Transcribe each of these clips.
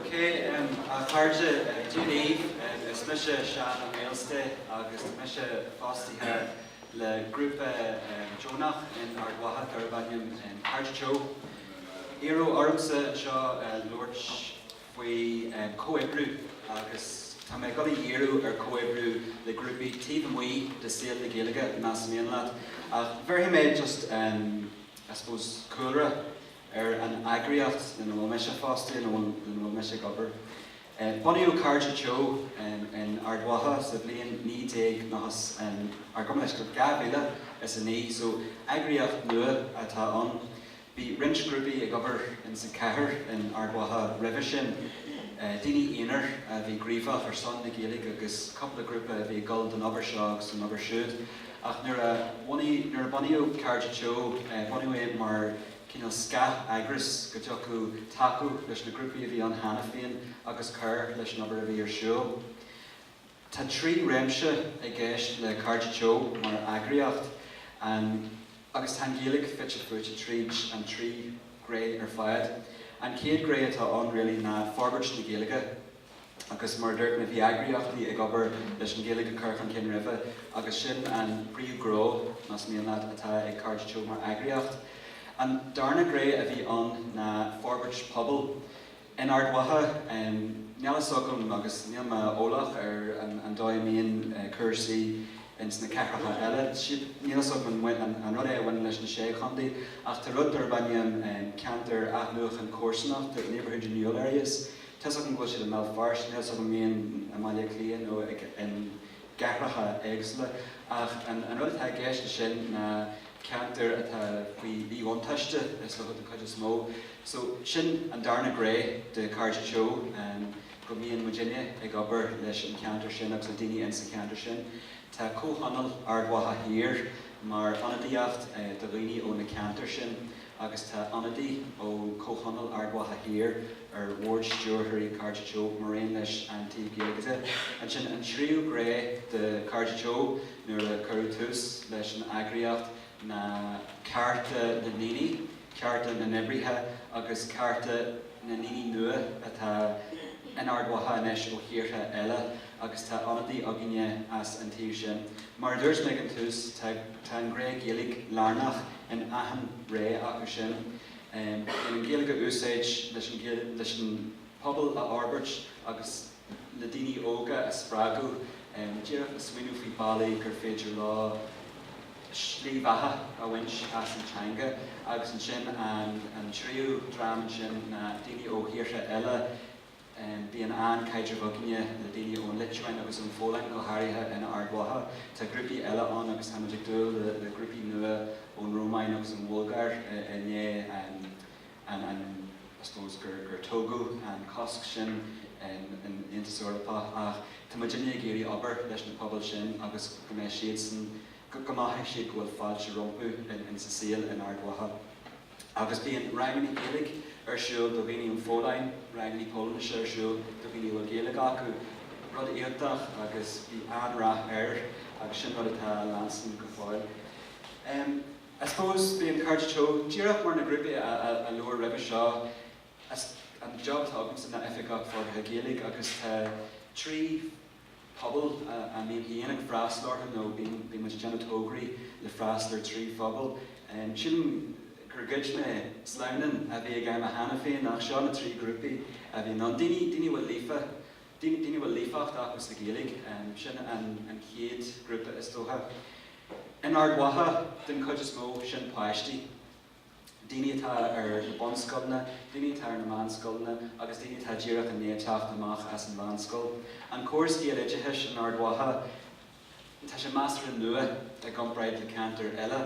Ok, a chairde, Dia daoibh, is mise Seán Ó Maoilsté agus tá mise fostaithe le grúpa deonach in Ard Mhacha darbh ainm Cairde Teo. Iarradh ormsa anseo a labhairt faoi chomhoibriú agus tá mé ag dul a dhíriú ar chomhoibriú le grúpaí taobh amuigh de saol na Gaeilge más mian leat. Ach bhéarfaidh mé just, I suppose, cúlra ar an eagraíocht ina bhfuil mise fostaithe nó ina bhfuil mise ag obair. Bunaíodh Cairde Teo in Ard Mhacha sa bhliain naoi déag nócha is, ar, gabh mo leithscéal, 2009, so eagraíocht nua atá ann. Bhí roinnt grúpaí ag obair ins an chathair in Ard Mhacha roimhe sin, daoine aonair a bhí gníomhach ar son na Gaeilge agus cúpla grúpa a bhí ag dul don obair seo agus don obair siúd. Ach nuair a bunaíodh Cairde Teo, bunaíodh é mar cineál scath-eagras go dtiocfadh tacú leis na grúpaí a bhí ann cheana féin agus cur leis an obair a bhí ar siúl. Tá trí réimse i gceist le Cairde Teo mar eagraíocht, agus tá an Ghaeilge fite fuaite tríd an trí ghné ar fad. An chéad ghné atá ann really ná forbairt na Gaeilge agus mar a dúirt mé bhí eagraíochtaí ag obair leis an Ghaeilge a chur chun cinn roimhe agus sin an príomhghnó, más mian leat, atá ag Cairde Teo mar eagraíocht. An darna ghné a bhí ann ná forbairt pobail. In Ard Mhacha, níl fhios agam agus níl mé eolach ar an dóigh a mbíonn cúrsaí ins na cathracha eile, níl fhios agam an rud é a bhaineann leis na sé chontae, ach tá rud darb ainm ceantair athnuachan comharsanachta, neighbourhood renewal areas. Tá fhios agam go bhfuil siad i mBéal Feirste, níl fhios agam mbíonn i mBaile Átha Cliath nó i gcathracha éagsúla. Ach an rud atá i gceist ansin ná. ceantar atá faoi mhíbhuntáiste i sochaí den chuid is mó. So, sin an darna gné de Cairde Teo, go mbíonn muidinne ag obair leis an cheantar sin agus le daoine insa cheantar sin. Tá Comhthionól Ard Mhacha Thiar mar ionadaíocht do dhaoine ó na ceantair sin agus tá ionadaí ó Chomhthionól Ard Mhacha Thiar ar Bhord Stiúrthóirí Cairde Teo maraon leis an taobh Gaeilge de. Ansin, an tríú gné de Cairde Teo. nuair a cuireadh tús leis an eagraíocht ná cearta na ndaoine, cearta na n-oibrithe agus cearta na ndaoine nua atá in Ard Mhacha anois ó thíortha eile agus tá ionadaí againne as an taobh sin. Mar a dúirt mé ag an tús, tá an gné Gaeilge lárnach in achan ghné acu sin. Bíonn an Ghaeilge á úsáid leis an pobal a fhorbairt agus. le daoine óga a spreagadh, díreach le smaoineamh faoi bhealaí gur féidir leo slí bheatha a bhaint as an teanga. Agus ansin an tríú dream ansin ná daoine ó thíortha eile. Bíonn an-chaidreamh againne le daoine ón Liotuáin agus ón Pholainn, go háirithe in Ard Mhacha. Tá grúpaí eile ann agus tá muid ag dúil le grúpaí nua ón Rómáin agus ón Bhulgáir i ndiaidh I suppose gur gur tógadh an cosc sin in in Aontas Eorpach ach tá muid uilig ag iarraidh obair leis na pobail sin agus go mbeidh siadsan go go mothaíonn siad go bhfuil fáilte rompu in in sa saol in Ard Mhacha agus bíonn rangannaí Gaeilge ar siúl do dhaoine ón Pholainn rangannaí Polainnise ar siúl do dhaoine a bhfuil Gaeilge acu rud iontach agus bhí an-rath air agus sin rud atá ag leanstan go fóill. I suppose, bíonn Cairde Teo, díreach mar na grúpaí a labhair roimhe seo, an job atá agamsa ná Oifigeach Forbartha Gaeilge agus tá trí pobal a mbím féin ag freastal orthu nó bíonn muid ag déanamh tógraí le freastal ar trí phobal. Sílim gur ghoid mé sleamhnán a bhí ag achan duine cheana féin ach seo na trí ghrúpaí a bhíonn ann, daoine atá líofa, daoine a bhfuil líofacht acu sa Ghaeilge, sin an chéad ghrúpa is dócha. In Ard Mhacha, den chuid is mó, sin páistí, daoine atá ar na bunscoileanna, daoine atá ar na meánscoileanna agus daoine atá díreach i ndiaidh teacht amach as an mheánscoil. An córas Gaeloideachais in Ard Mhacha, tá sé measartha nua i gcomparáid le ceantair eile.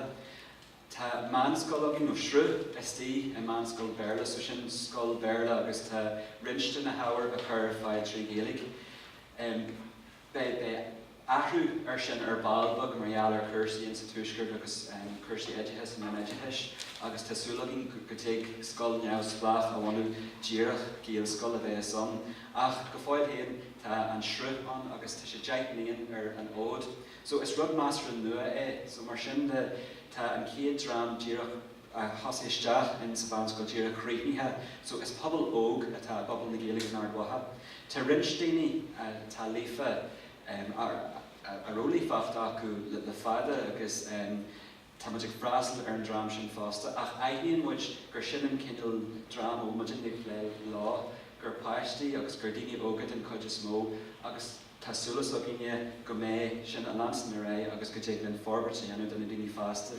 Tá meánscoil againn, nó sruth istigh i meánscoil Béarla, so sin scoil Bhéarla agus tá roinnt de na hábhair á gcur ar fáil trí Ghaeilge. Beidh athrú air sin ar ball beag mar gheall ar chúrsaí sa Tuaisceart agus cúrsaí oideachais an oideachais agus tá súil againn go dtig scoil neamhspleách a bhunú díreach, Gaelscoil a bheas ann. Ach go fóill féin tá an sruth ann agus tá sé deich mbliana ar an fhód so is rud measartha nua é so mar sin de tá an chéad dream díreach, thosaigh isteach in sa mheánscoil díreach críochnaithe. So is pobal óg atá i bpobal na Gaeilge in Ard Mhacha. Tá roinnt daoine atá líofa a raibh líofacht acu le fada agus tá muid ag freastal ar an dream sin fosta ach aithníonn muid gur sin an cineál dream a bhfuil muid ag plé leo, gur páistí agus gur daoine óga den chuid is mó agus tá súil as againne go mbeidh sin ag leanstan ar aghaidh agus go dtig linn forbairt a dhéanamh do na daoine fásta.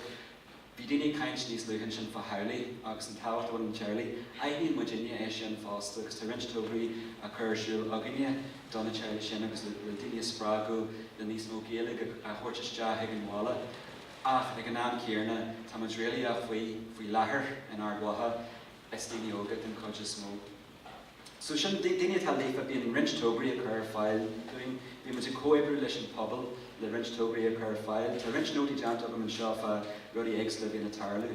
Bhí daoine ag caint níos luaithe ansin fá theaghlaigh agus an tábhacht a bhaineann le teaghlaigh. Aithníonn muidinne é sin fosta agus tá roinnt tógraí á cur ar siúl againne do na teaghlaigh sin agus le daoine a spreagadh le níos mó Gaeilge a thabhairt isteach ag an bhaile ach ag an am céanna tá muid réalaíoch faoi láthair in Ard Mhacha is daoine óga den chuid is mó. So sin daoine atá líofa. Bíonn roinnt tograí a chur ar fáil dúinn. Bíonn muid ag comhoibriú leis an pobal le roinnt tograí a chur ar fáil. Tá roinnt nótaí déanta agam anseo fá rudaí éagsúla a bhíonn ag tarlú.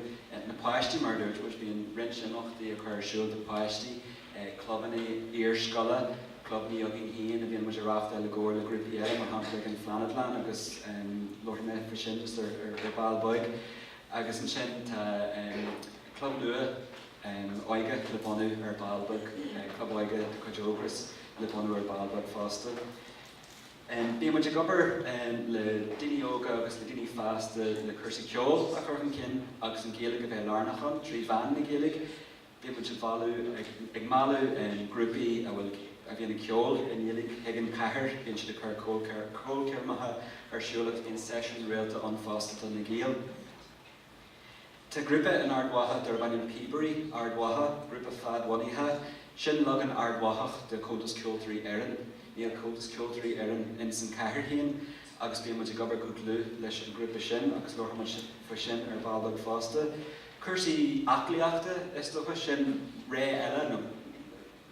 Na páistí, mar a dúirt muid, bíonn roinnt imeachtaí a chur ar siúl do pháistí, clubanna iarscoile, clubanna againn féin a bhíonn muid a reáchtáil i gcomhar le grúpaí eile, mar shampla an Fhleánadlann agus labharfaidh mé faoi sin just ar ball beag. Agus ansin tá club nua óige le bunú ar ball beag, club óige de chuid Ógras le bunú ar ball beag fosta. Bíonn muid ag obair le daoine óga agus le daoine fásta le cúrsaí ceoil a chur chun cinn agus an Ghaeilge a bheith lárnach ann trí mheán na Gaeilge. Bíonn muid ag bailiú, ag mealladh grúpaí a bhfuil, a bhíonn ag ceol i nGaeilge chuig an chathair. Bíonn siad ag cur ceolchoirmeacha ar siúl agus bíonn seisiúin rialta ann fosta do na Gaeil. Tá grúpa in Ard Mhacha darb ainm Píobairí Ard Mhacha, grúpa fadbhunaithe. Sin leagan Ard Mhachach de Comhaltas Ceoltóirí Éireann. Níl Comhaltas Ceoltóirí Éireann ins an chathair féin agus bíonn muid ag obair go dlúth leis an grúpa sin agus labharfaidh muid faoi sin ar ball beag fosta. Cúrsaí aclaíochta, is dócha. Sin gné eile nó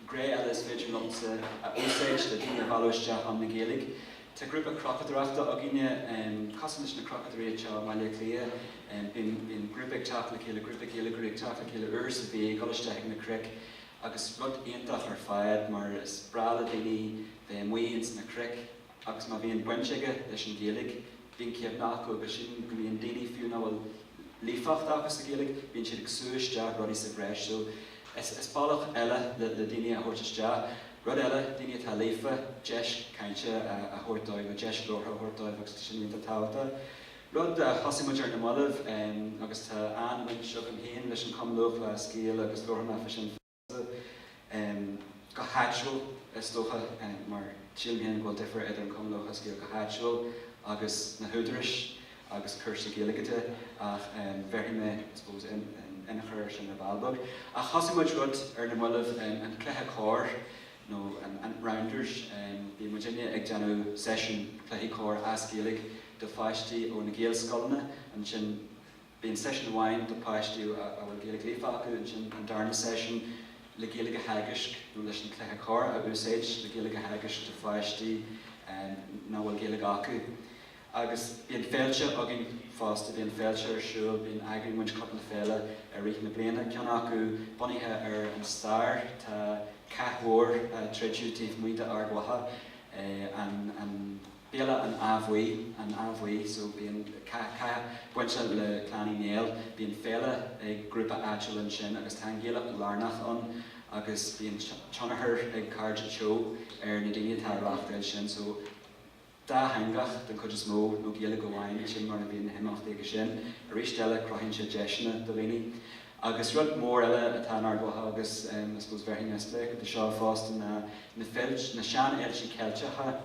gné eile is féidir liomsa a úsáid le daoine a mhealladh isteach chun na Gaeilge. Tá grúpa cnocadóireachta againne, cosúil leis na Cnocadóirí anseo i mBaile Átha Cliath. Bíonn grúpa ag teacht le chéile, grúpa Gaeilgeoirí ag teacht le chéile uair sa mhí ag dul isteach chuig na cnoic agus rud iontach ar fad mar is breá le daoine bheith amuigh ins na cnoic Agus má bhíonn baint aige leis an Ghaeilge, bíonn cinéal agus sin go mbíonn daoine, fiú nach bhfuil líofacht acu sa Ghaeilge, bíonn siad ag sú isteach rudaí sa bhreis. So, is bealach eile le daoine a thabhairt isteach. Rud eile, daoine atá líofa, deis cainte a thabhairt dóibh nó deis labhartha a thabhairt dóibh agus sin iontach tábhachtach. Rud a thosaigh muid ar na mallaibh, agus tá an-bhaint agam féin leis an Cumann Lúthchleas Gael agus labhróidh mé faoi sin, go háitiúil, is dócha, mar tílim féin go bhfuil difear idir an Cumann Lúthchleas Gael go háitiúil agus na húdarais agus cúrsaí Gaeilge de, ach bhéarfaidh mé, I suppose, inneachar air sin ar ball beag. Ach thosaigh muid rud ar na mallaibh, an cluiche corr, nó an rounders, bíonn muidinne ag déanamh seisiún cluichí corr as Gaeilge do pháistí ó na Gaelscoileanna, ansin, Bíonn seisiún amháin do pháistí a bhfuil Gaeilge líofa acu, ansin an darna seisiún le Gaeilge a theagasc nó leis an cluiche corr a úsáid le Gaeilge a theagasc do pháistí nach bhfuil Gaeilge acu. Agus bíonn féilte againn fosta, bíonn féilte ar siúl, bíonn, eagraíonn muid cúpla féile i rith na bliana, ceann acu bunaithe ar an stair, tá cath mór a troideadh taobh amuigh d'Ard Mhacha, an. Béal an Átha Bhuí, an Átha Bhuí, so bíonn cath, cath bainte le Clann Uí Néill, bíonn féile ag grúpa áitiúil ansin agus tá an Ghaeilge lárnach ann agus bíonn tionchar ag Cairde Teo ar na daoine atá ag reáchtáil sin so dátheangach den chuid is mó nó Gaeilge amháin, sin mar a bhíonn na himeachtaí acu sin. Arís eile cruthaíonn sé deiseanna do dhaoine. Agus rud mór eile atá in Ard Mhacha agus I suppose bhéarfaidh mé spléachadh de seo fosta ná na féilte, na seanfhéilte Ceilteacha.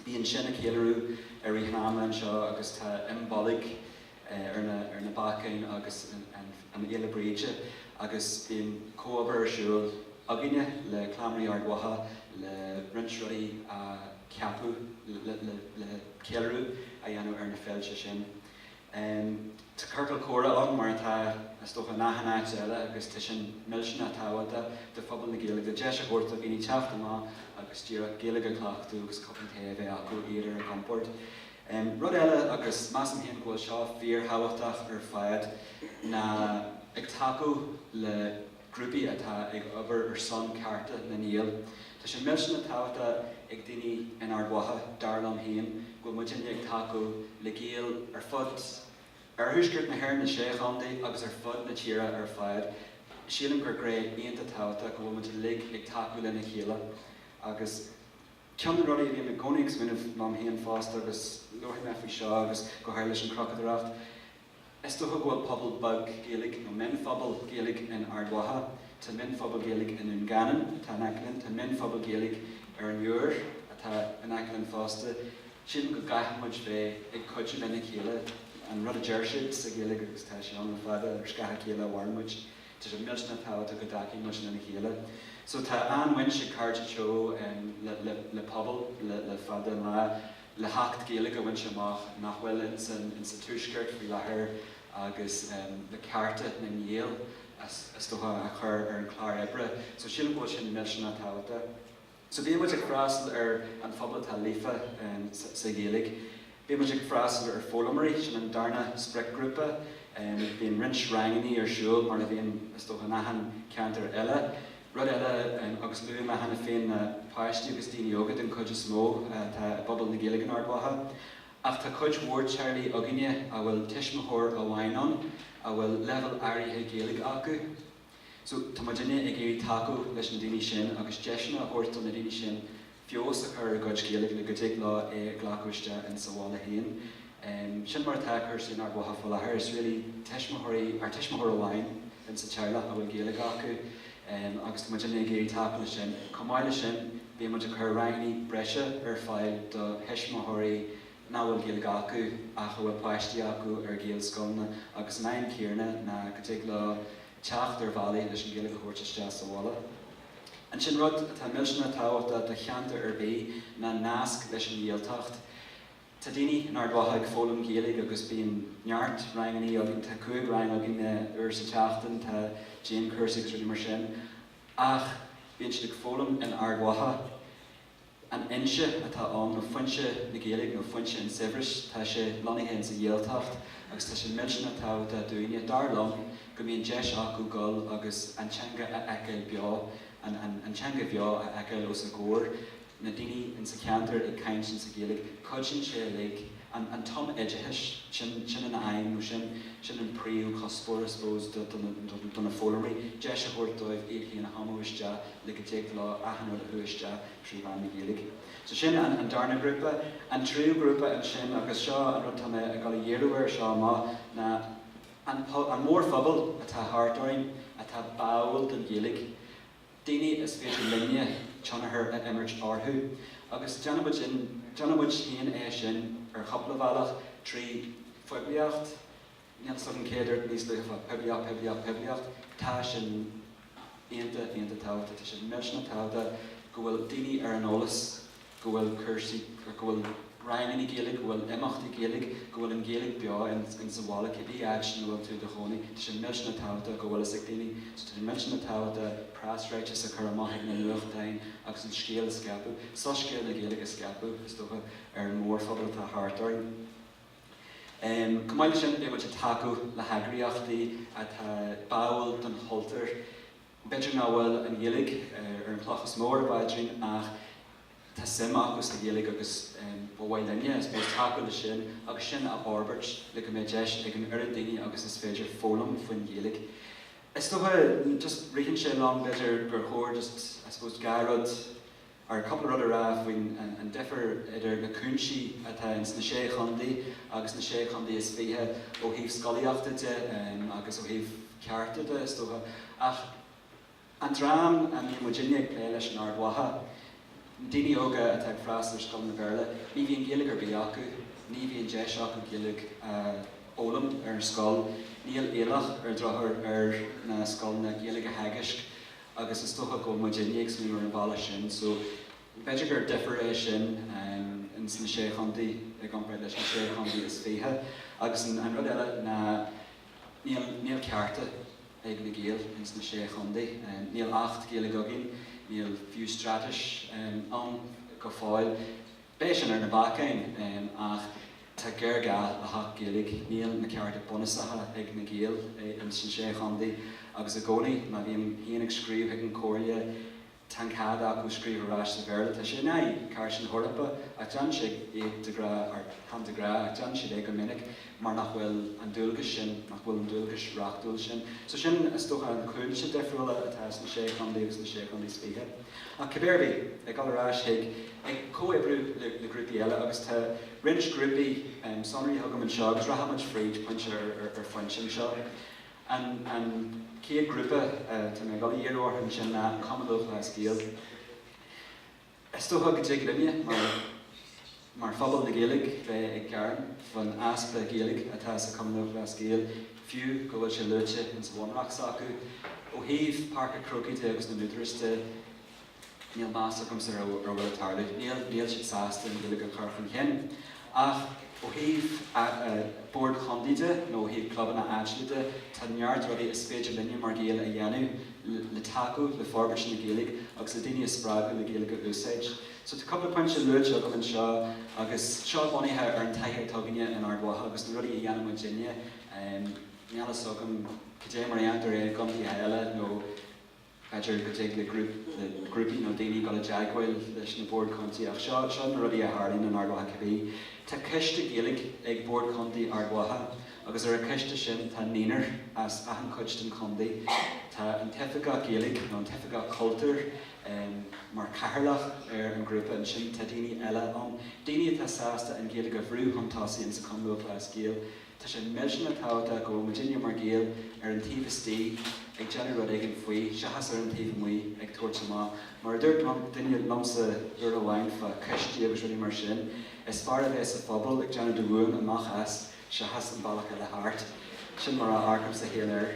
Bíonn sin ag ceiliúradh ar Oíche Shamhna anseo agus tá Imbolc ar na bacáin agus an Fhéile Bríde agus bíonn comhobair ar siúl againne le Cleamairí Ard Mhacha le roinnt rudaí a cheapadh le ceiliúradh a dhéanamh ar na féilte sin. Em, tá ciorcal comhrá ann, mar atá, is dócha, in achan áit eile agus tá sin millteanach tábhachtach do phobal na Gaeilge, le deis a thabhairt do dhaoine teacht amach agus díreach Gaeilge a chleachtadh agus cupán tae a bheith acu, iad ar a gcompord. Em, rud eile, agus measaim féin go bhfuil seo fíorthábhachtach ar fad, ná ag tacú le. grúpaí atá ag obair ar son cearta na nGael. Tá sé millteanach tábhachtach ag daoine in Ard Mhacha, dar liom féin, go bhfuil muid uilig ag tacú le Gaeil ar fud oirthuaisceart na hÉireann, na sé chontae agus ar fud na tíre ar fad. Sílim gur gné iontach tábhachtach go bhfuil muid uilig ag tacú lena chéile agus ceann de na rudaí a bhím i gcónaí ag smaoineamh liom féin fosta agus labharfaidh mé faoi seo agus go háirithe leis an chnocadóireacht, Is dócha go bhfuil pobal beag Gaeilge, nó mionphobal Gaeilge in Ard Mhacha, tá mionphobal Gaeilge i nDún Geanainn, atá in aice linn, tá mionphobal Gaeilge ar an Iúir, atá in aice linn fosta. Sílim go gcaithfidh muid bheith ag cuidiú lena chéile. An rud a deir siad sa Ghaeilge, agus tá sé ann le fada, ar scáth a chéile a mhaireann muid. Tá sé millteanach tábhachtach go dtacaíonn muid lena chéile. So tá an-bhaint ag Cairde Teo le Pobal le fada an lá. le hAcht Gaeilge a bhaint amach nach bhfuil in sa Tuaisceart faoi láthair agus le cearta na nGael is dócha a chur ar an chlár oibre. So sílim go bhfuil sé millteanach tábhachtach. So bíonn muid ag freastal ar an phobal atá líofa sa Ghaeilge. Bíonn muid ag freastal ar foghlaimeoirí, sin an darna spriocghrúpa. Bíonn roinnt rangannaí ar siúl mar a bhíonn is dócha in achan ceantar eile. Rud eile, agus luaigh mé cheana féin ná páistí agus daoine óga den chuid is mó atá i bpobal na Gaeilge in Ard Mhacha, ach tá cuid mhór teaghlaigh againne a bhfuil tuismitheoir amháin ann a bhfuil leibhéal áirithe Gaeilge acu. So tá muidinne ag iarraidh tacú leis na daoine sin agus deiseanna a thabhairt do na daoine sin feabhas a chur ar a gcuid Gaeilge le go dtig leo é a ghlacadh isteach ins an bhaile féin. Sin mar atáthar in Ard Mhacha faoi láthair. Is really tuismitheoirí, nó tuismitheoir amháin in sa teaghlach a bhfuil Gaeilge acu agus tá muid uilig ag iarraidh tacú le sin. Chomh maith le sin bíonn muid ag cur rangannaí breise ar fáil do thuismitheoirí nach bhfuil Gaeilge acu ach a bhfuil páistí acu ar Ghaelscoileanna agus an aidhm chéanna ná go dtig leo teacht ar bhealaí leis an Ghaeilge a thabhairt isteach sa bhaile. Ansin rud atá millteanach tábhachtach do cheantar ar bith ná nasc leis an Ghaeltacht? Tá daoine in Ard Mhacha ag foghlaim Gaeilge agus bíonn neart rangannaí againn, tá cúig rang againn uair sa tseachtain, tá dianchúrsaí agus rudaí mar sin. Ach bíonn siad ag foghlaim in Ard Mhacha. An fhoinse atá ann, nó foinse na Gaeilge, nó foinse an tsaibhris, tá sé lonnaithe ins a' Ghaeltacht, agus tá sé millteanach tábhachtach dúinne, dar liom, go mbíonn deis acu goil agus an teanga a fheiceáil beo, an teanga bheo a fheiceáil os a gcomhair, na daoine ins a' cheantar ag caint ins a' Ghaeilge. Cuidíonn sé uilig. an tumoideachas, sin, sin an aidhm nó sin, sin an príomhchuspóir I suppose do, do na, do, do na foghlaimeoirí, deis a thabhairt dóibh iad féin a thumadh isteach le go dtig leo achan rud a shú isteach trí mheán na Gaeilge. So sin an, an darna grúpa. An tríú grúpa ansin agus seo an rud atá mé a' goil a dhíriú air seo amach ná an po, an mórphobal atá thart orainn atá báúil don Ghaeilge. daoine is féidir linne tionchar a imirt orthu. Agus déanaimid sin, déanaimid féin é sin ar chúpla bealach, trí phoiblíocht, níl 's agam cé a dúirt níos luaithe, poiblíocht, poiblíocht, poiblíocht, tá sin iontach, iontach tábhachtach, tá sé millteanach tábhachtach go bhfuil daoine ar an eolas. go bhfuil cúrsaí, go bhfuil ranganna Gaeilge, go bhfuil imeachtaí Gaeilge, go bhfuil an Ghaeilge beo in sa bhaile cibé áit ina bhfuil tú i do chónaí. Tá sé millteanach tábhachtach go bhfuil fhios ag daoine. So tá sé millteanach tábhachtach preasráiteas a chur amach ag na nuachtáin agus an scéal a scaipeadh, soiscéal na Gaeilge a scaipeadh, is dócha, ar an mórphobal atá thart orainn. Em, chomh maith le sin, beidh muid ag tacú le heagraíochtaí atá báúil don chultúr. B'fhéidir nach bhfuil an Ghaeilge ar an chloch is mó ar a bpaidrín ach tá suim acu sa Ghaeilge agus ba mhaith linne, I suppose, tacú le sin agus sin a fhorbairt le go mbeidh deis ag an oiread daoine agus is féidir foghlaim faoin Ghaeilge. Is dócha, just ritheann sé liom, b'fhéidir gur chóir just, I suppose, dhá rud, nó cúpla rud a rá faoin an difear idir na cúinsí atá ins na Sé Chontae agus na Sé Chontae is Fiche ó thaobh scolaíochta de agus ó thaobh cearta de, is dócha. Ach an dream a mbíonn muidinne ag plé leis in Ard Mhacha, na daoine óga atá ag freastal ar scoileanna Béarla, ní bhíonn Gaeilge ar bith acu, ní bhíonn deis acu Gaeilge a fhoghlaim ar scoil, níl iallach ar an drochuair ar na scoileanna Gaeilge a theagaisc. agus is dócha go bhfuil muid uilig ag smaoineamh ar an bhealach sin so b'fhéidir gur difear é sin ins na Sé Chontae i gcomparáid leis na Sé Chontae is Fiche agus an rud eile ná níl, níl cearta ag na Gaeil ins na Sé Chontae, níl Acht Gaeilge againn, níl fiú Straitéis ann go fóill, beidh sin ar na bacáin ach Tá géarghá le hAcht Gaeilge. Níl na cearta bunúsacha ag na Gaeil insna 6 chontae agus i gcónaí má bhím féin ag scríobh chuig an gComhairle tá an cead acu scríobh ar ais sa Bhéarla, tá sé in aghaidh Chairt na hEorpa ach déanann siad é de ghrá or chan de ghrá ach déanann siad é go minic mar nach bhfuil an dualgas sin nach bhfuil an dualgas reachtúil sin. So sin is dócha na cúinsí difriúla atá sna 6 chontae agus sna 6 chontae is fiche. Ach cibé ar bith, ag dul ar ais chuig. comhoibriú le grúpaí eile agus tá roinnt grúpaí sonraithe agam anseo agus rachaimid fríd pointe ar phointe anseo. An chéad ghrúpa atá mé ag dul a dhíriú orthu ansin ná an Cumann Lúthchleas Gael. Is dócha go dtig linne mar phobal na Gaeilge bheith ag gearán faoin easpa Gaeilge atá sa Chumann Lúthchleas Gael fiú go bhfuil sé luaite insa bhunreacht s'acu. Ó thaobh Páirc an Chrócaigh de agus na n-údaras de, Níl meas agamsa ar a bhfuil ag tarlú. Níl. Níl siad sásta an Ghaeilge a chur chun chinn. Ach ó thaobh boird chontae de nó ó thaobh clubanna áitiúla de, tá neart rudaí is féidir linne mar Ghaeil a dhéanamh le tacú le forbairt na Gaeilge agus le daoine a spreagadh le Gaeilge a úsáid. So tá cúpla pointe luaite agam anseo agus seo bunaithe ar an taithí atá againne in Ard Mhacha agus na rudaí a dhéanann muidinne. Níl a fhios agam cad é mar a dhéantar é i gcontaetha eile nó. B'fhéidir go dtig le grúpaí nó daoine dul i dteagmháil leis na Boird Chontae ach seo na rudaí a tharlaíonn in Ard Mhacha cibé. Tá coiste Gaeilge ag Bord Chontae Ard Mhacha agus ar an choiste sin tá naonúr as achan chuid den chontae. Tá an tOifigeach Gaeilge nó an tOifigeach Cultúir mar chathaoirleach ar an ghrúpa ansin. Tá daoine eile ann, daoine atá sásta an Ghaeilge a bhrú chun tosaigh insa Chumann Lúthchleas Gael. Tá sé millteanach tábhachtach go bhfuil muidinne mar Ghaeil ar an taobh istigh ag déanamh rud éigin faoi, seachas ar an taobh amuigh ag tabhairt amach. Mar a dúirt duine liomsa uair amháin fá choistí agus rudaí mar sin, is fearr a bheith sa phuball ag déanamh do mhúin amach as seachas an bealach eile thart. Sin mar a amharcaimse féin air.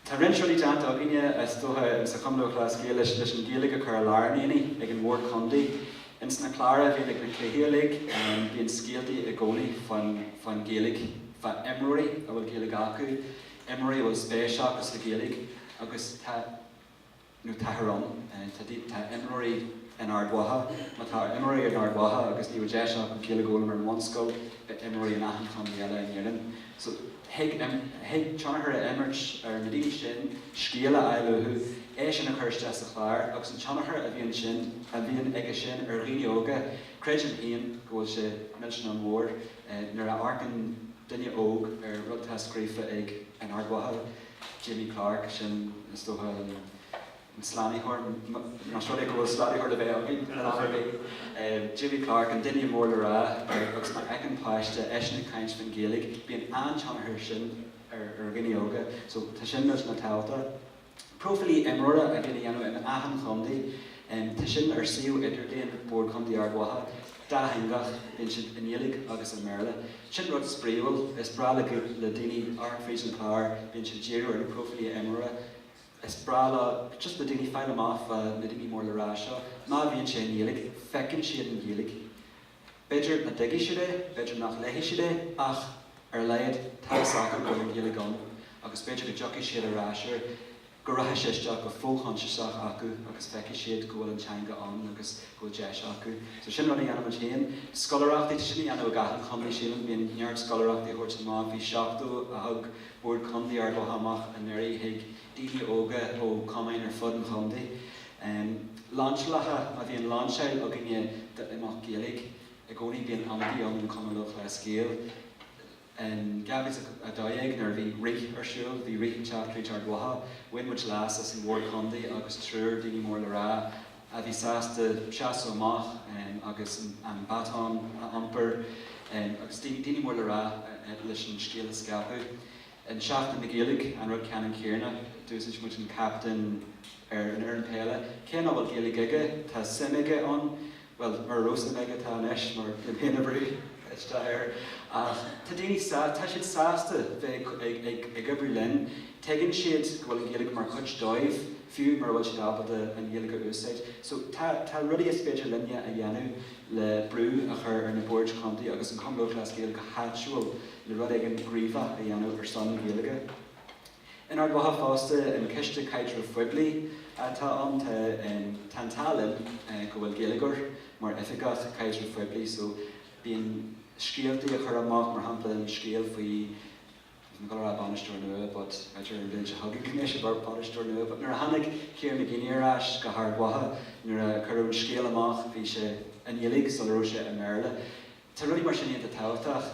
Tá roinnt rudaí déanta againne, is dócha, sa Chumann Lúthchleas Gael leis an Ghaeilge a chur i lár an aonaigh ag an mBord Contae. Ins na cláir a bhíonn ag na cluichí uilig, bíonn scéaltaí i gcónaí fán Ghaeilge, fá imreoirí a bhfuil Gaeilge acu, imreoirí a bhfuil spéis acu sa Ghaeilge agus tá, nó táthar ann. Tá imreoirí in Ard Mhacha, má tá imreoirí in Ard Mhacha, agus ní raibh deis acu Gaeilge a fhoghlaim ar an mbunscoil, beidh imreoirí in achan chontae eile in Éirinn. So, thig tionchar a imirt ar na daoine sin, scéal a fháil uathu, é sin a chur isteach sa chlár, agus an tionchar a bhíonn sin, a bhíonn aige sin ar dhaoine óga, creidim féin go bhfuil sé millteanach mór, nuair a amharcann duine óg ar rud atá scríofa ag, in Ard Mhacha, Jamie Clarke, sin, is dócha, an slánaitheoir, más rud é go bhfuil slánaitheoir le bheith againn. Jamie Clarke, an duine mór le rá, agus má fheiceann páiste eisean ag caint faoin Ghaeilge, bíonn an-tionchar aige sin ar dhaoine óga. So, tá sin millteanach tábhachtach. Próifílí imreora a bhíonn á dhéanamh in achan chontae, tá sin ar suíomh idirlíon Bhord Chontae Ard Mhacha. dátheangach, bíonn siad i nGaeilge agus i mBéarla. Sin rud spraíúil, is breá le le daoine amharc fríd an chlár, bíonn siad ag díriú ar na próifílí imreora, is breá le, just le daoine fáil amach fá na daoine mór le rá seo, má bhíonn sé i nGaeilge, feiceann siad an Ghaeilge. B'fhéidir nach dtuigfidh siad é, b'fhéidir nach léifidh siad é ach ar a laghad tá fhios acu go bhfuil an Ghaeilge ann agus b'fhéidir go dtiocfaidh siad ar ais air. go rachaidh sé isteach go fo-choinsiasach acu agus feicfidh siad go bhfuil an teanga ann agus go bhfuil deis acu. So sin rud a dhéanaimid féin. Scoláireachtaí, tá sin á dhéanamh ag achan chontae sílim, bíonn neart scoláireachtaí a thabhairt amach. Bhí 70 a thug Bord Contae Ard Mhacha amach anuraidh chuig daoine óga ó chumainn ar fud an chontae. Lainseálacha, má bhíonn lainseáil againne d'imeacht Gaeilge i gcónaí bíonn ionadaí ann ón Chumann Lúthchleas Gael. In 2012 nuair a bhí Rith ar siúl, bhí Rith ag teacht tríd Ard Mhacha, bhain muid leas as an Bhord Chontae agus triúr daoine mór le rá a bhí sásta seasamh amach agus an baton a iompar agus daoine mór le rá leis an scéal a scaipeadh. In Seachtain na Gaeilge, an rud ceannann céanna, d'úsáid muid an captaen ar an fhoireann peile, cé nach bhfuil Gaeilge aige, tá suim aige ann. Bhuel, mura raibh suim aige, tá anois mar bhí mé féin ag brú isteach air. Ach tá daoine, tá siad sásta bheith ag oibriú linn. Tuigeann siad go bhfuil an Ghaeilge mar chuid dóibh, fiú mura bhfuil siad ábalta an Ghaeilge a úsáid. So tá tá rudaí is féidir linne a dhéanamh le brú a chur ar na Boird Chontae agus an Cumann Lúthchleas Gael go háitiúil le rud éigin gníomhach a dhéanamh ar son na Gaeilge. In Ard Mhacha fosta, an Coiste Caidrimh Phoiblí atá ann, tá an t-ádh linn go bhfuil Gaeilgeoir mar oifigeach caidrimh phoiblí so bíonn scéaltaí á chur amach, mar shampla an scéal faoi, níl mé chun a rá bainisteoir nua but b'fhéidir an bhliain seo chugainn go mbeidh sé ina bhainisteoir nua but nuair a tháinig Kieran McGeeney ar ais go hArd Mhacha, nuair a cuireadh an scéal amach bhí sé i nGaeilge sula raibh sé i mBéarla. Tá rudaí mar sin iontach tábhachtach